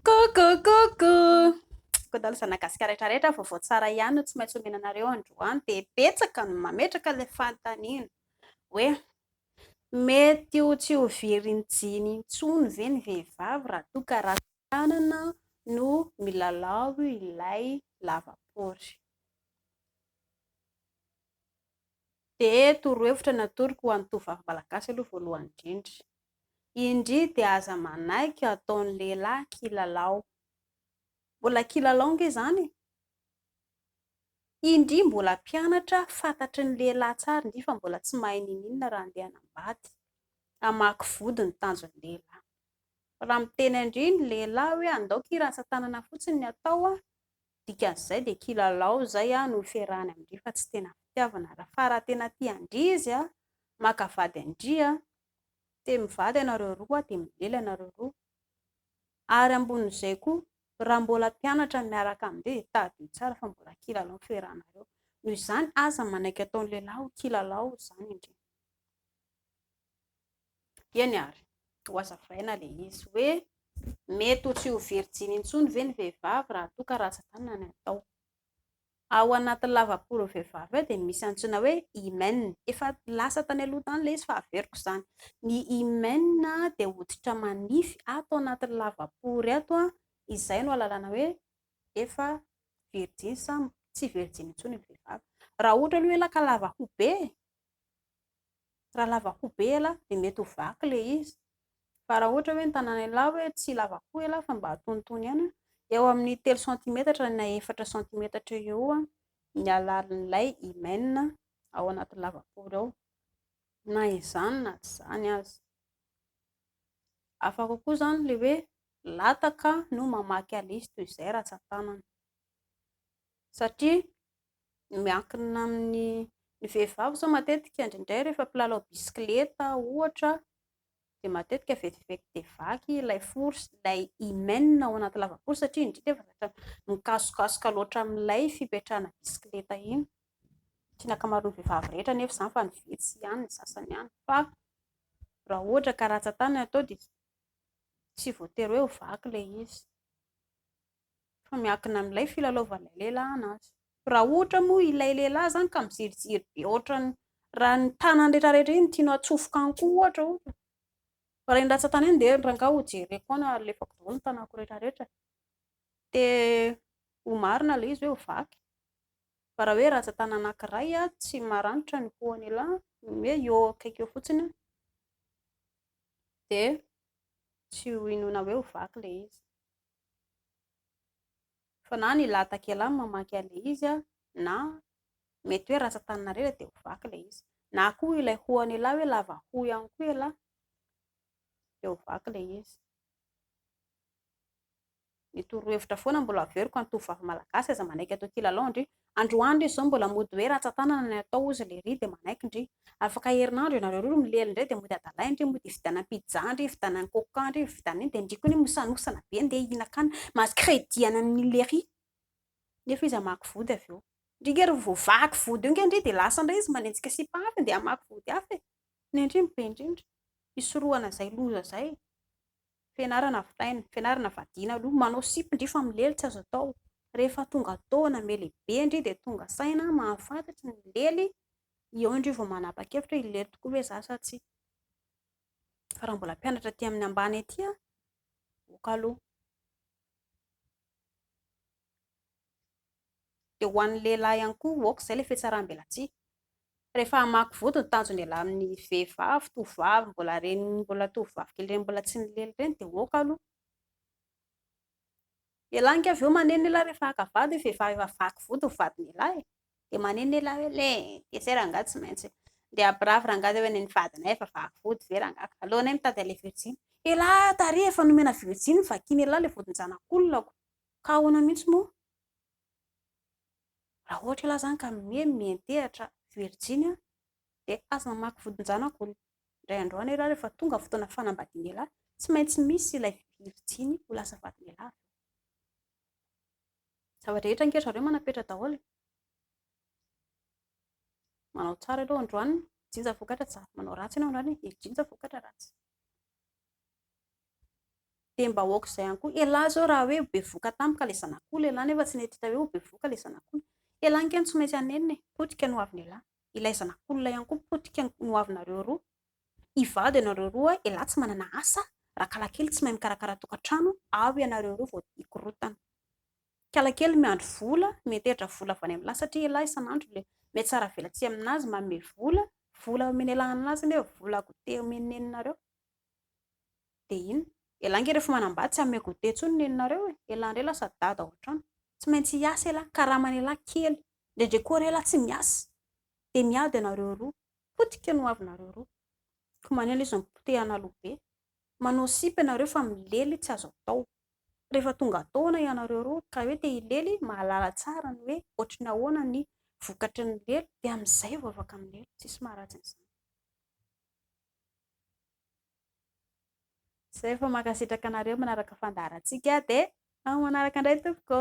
Coucou, Koa daholo izany Nagasikara rehetra rehetra vaovao tsara ihany no tsy maintsy omena anareo androany dia betsaka no mametraka ilay fanontaniana hoe mety ho tsy ho very ny jean intsony ve ny vehivavy raha toa ka ratsy Tanana no milalao ilay lavapory. Dia torohevitra ny atoroko ho an'ny tovovavy malagasy aloha voalohany indrindra. Indry dia aza manaiky ataon'ny lehilahy kilalao. Mbola kilalao ange izany e! Indry mbola mpianatra fantatry ny lehilahy tsara indry fa mbola tsy mahay ninoninona raha andeha hanambady. Hamaky vody no tanjon'ny lehilahy. Raha miteny an-dry ny lehilahy hoe andao kira ratsan-tanana fotsiny ny atao, dikan'izay dia kilalao izay no ifiarahany amin-dry fa tsy tena fitiavana. Fa raha tena tia an-dry izy, maka vady an-dry, dia mivady ianareo roa, dia milely ianareo roa. Ary ambonin'izay koa, raha mbola mpianatra miaraka amin-dry dia tadidio tsara fa mbola kilalao no ifiarahanareo. Noho izany, aza manaiky ataon'ny lehilahy ho kilalao izany an-dry. Eny ary, ho hazavaina ilay izy hoe mety ho tsy ho virjiny intsony ve ny vehivavy raha toa ka rantsan-tanana ny atao. Ao anatin'ny lavaporon'ny vehivavy ao dia misy antsoina hoe hymen, efa lasa tany aloha tany ilay izy fa averiko izany. Ny hymen dia hoditra manify ato anatin'ny lavapory ato, izay no ahalalana hoe efa virjiny sa tsy virjiny intsony ny vehivavy. Raha ohatra aloha ela ka lava hobe e! raha lava hoho be ela dia mety ho vaky ilay izy, fa raha ohatra hoe ny tanan'ialahy hoe tsy lava hoho ialahy fa mba antonontonony ihany, eo amin'ny telo santimetatra na efatra santimetatra eo ho eo ny halalin'ilay hymen ao anaty lavapory ao, na izany na tsy izany aza. Hafa kokoa izany ilay hoe lataka no mamaky azy toy izay ratsan-tanana. satria miankina amin'ny ny vehivavy izao matetika indraindray rehefa mpilalao bisikileta ohatra dia matetika vetivety dia vaky ilay fory sy ilay hymen ao anaty lavafory satria indrisy efa zavatra mikasokasoka loatra amin'ilay fipetrahana bisikileta iny, tsy ny ankamaroan'ny vehivavy rehetra anefa izany fa ny vitsy ihany, ny sasany ihany fa raha ohatra ka rantsan-tany no atao dia tsy voatery hoe ho vaky ilay izy. fa miankina amin'ilay filalaovan'ilay lehilahy anazy, raha ohatra moa ilay lehilahy izany ka miziriziry be ohatran'ny raha ny tanany rehetra rehetra iny tianao atsofoka any koa ohatra ohatra, fa raha iny ratsan-tany iny dia rangaha hojereko any ary alefako daholo ny tanako rehetra rehetra, dia ho marina ilay izy hoe ho vaky, fa raha hoe ratsan-tany anakiray tsy maranitra ny hohon'ilay hoe eo akaiky eo fotsiny dia tsy ho inoana hoe ho vaky ilay izy. Fa na ny lahatakela no mamaky an'ilay izy an, na mety hoe rantsan-taninareo e dia ho vaky ilay izy. Na koa ilay hoho an'ialahy hoe lava hoho ihany koa ialahy dia ho vaky ilay izy. Ny torohevitra foana mbola averiko an'ny tovovavy malagasy aza manaiky atao kilalao ndry Androany re zao mbola mody hoe ratsatanana ny atao ozy lery de manaiky ndry. Afaka herinandro ianareo roa milely ndray de mody adalahy ndry mody hividianana pizza ndry hividianana coca ndry hividianana iny de ndry koa anie mosanosana be ndeha hihinakana mahazo credit ananiny lery nefa izy hamaky vody avy eo ndry nge ry vao vaky vody io nge ndry de lasa ndray izy manenjika sipa hafa ndeha hamaky vody hafa e ny ndry ny be ndrindra hisorohana zay loza zay e. Fianarana vitaina, fianarana vadiana aloha, manao sipa ndry fa milely tsy azo atao, rehefa tonga taona me lehibe ndry dia tonga saina mahafantatry ny milely, eo ndry vao manapa-kevitra hoe hilely tokoa ve za sa tsia. Fa raha mbola mpianatra aty amin'ny ambany aty aho, ok aloha. Dia ho an'ny lehilahy ihany koa ok izay ilay fitsaram-belatsihy. Rehefa hamaky vody ny tanjon'ny lehilahy amin'ny vehivavy, tovovavy mbola reny, mbola tovovavy kely reny mbola tsy nilely reny dia ok aloha. Dia lanika avy eo maneno ny lehilahy rehefa haka vady ny vehivavy efa vaky vody ny vadin'ny lehilahy e! dia maneno ny lehilahy hoe le! dia zay rangahy tsy maintsy handeha hampirafy rangahy zay hoe ny vadinay efa vaky vody ve rangahy ka aleonay mitady an'ilay virjiny. Elah tary efa nomena virjiny vakin'elah ilay vodin-janak'olona ko! Ka ahoana mihitsy moa raha ohatra ialahy izany ka mimoehy mihen-tehatra virijiny dia aza mamaky vodin-janako hono. Indray andro any ialahy rehefa tonga ny fotoana fanambadiana ialahy tsy maintsy misy ilay virijiny ho lasa vadin'ialahy avy eo. Zava-drehetra ange ry zareo manam-petra daholo. Manao tsara ianao androany, mijinja vokatra tsara. Manao ratsy ianao androany, mijinja vokatra ratsy. dia mba aoka izay ihany koa, elah zao raha hoe bevoka tampoka ilay zanak'oul, elah nefa tsy nety hita hoe ho bevoka ilay zanak'oul, elah nge no tsy maintsy hanenina e, potika no ho avin'elah, ilay zanak'oul ihany koa potika no ho avinareo roa, hivady ianareo roa, elah tsy manana asa, rakalakely tsy mahay mikarakara tokantrano, ao ianareo roa vao hikorotana, kalakely miandry vola, miantehitra vola avy any amin'lah satria elah isan'andro ilay mihatsara velatsihy amin'azy manome vola, vola omen'elah an'lah zany hoe vola goûter omen'ny neninareo. Dia iny. Elah nge rehefa manambady tsy hanome goûter intsony neninareo e! Elah indray lasa dada ao an-trano. Tsy maintsy hiasa elah, karaman'elah kely. Indraindray koa ary elah tsy miasa. Dia miady ianareo roa. Potika ny hoavinareo roa. Koa manina izy mipotehana loha be. Manao sipa ianareo fa milely tsy azo atao. Rehefa tonga taona ianareo roa ka hoe te hilely, mahalala tsara ny hoe ohatry ny ahoana ny vokatry ny lely dia amin'izay vao afaka milely. Tsisy maharatsy an'izany. Zay fa mankasitraka anareo manaraka fandaharantsika dia amin'ny manaraka indray tompoko.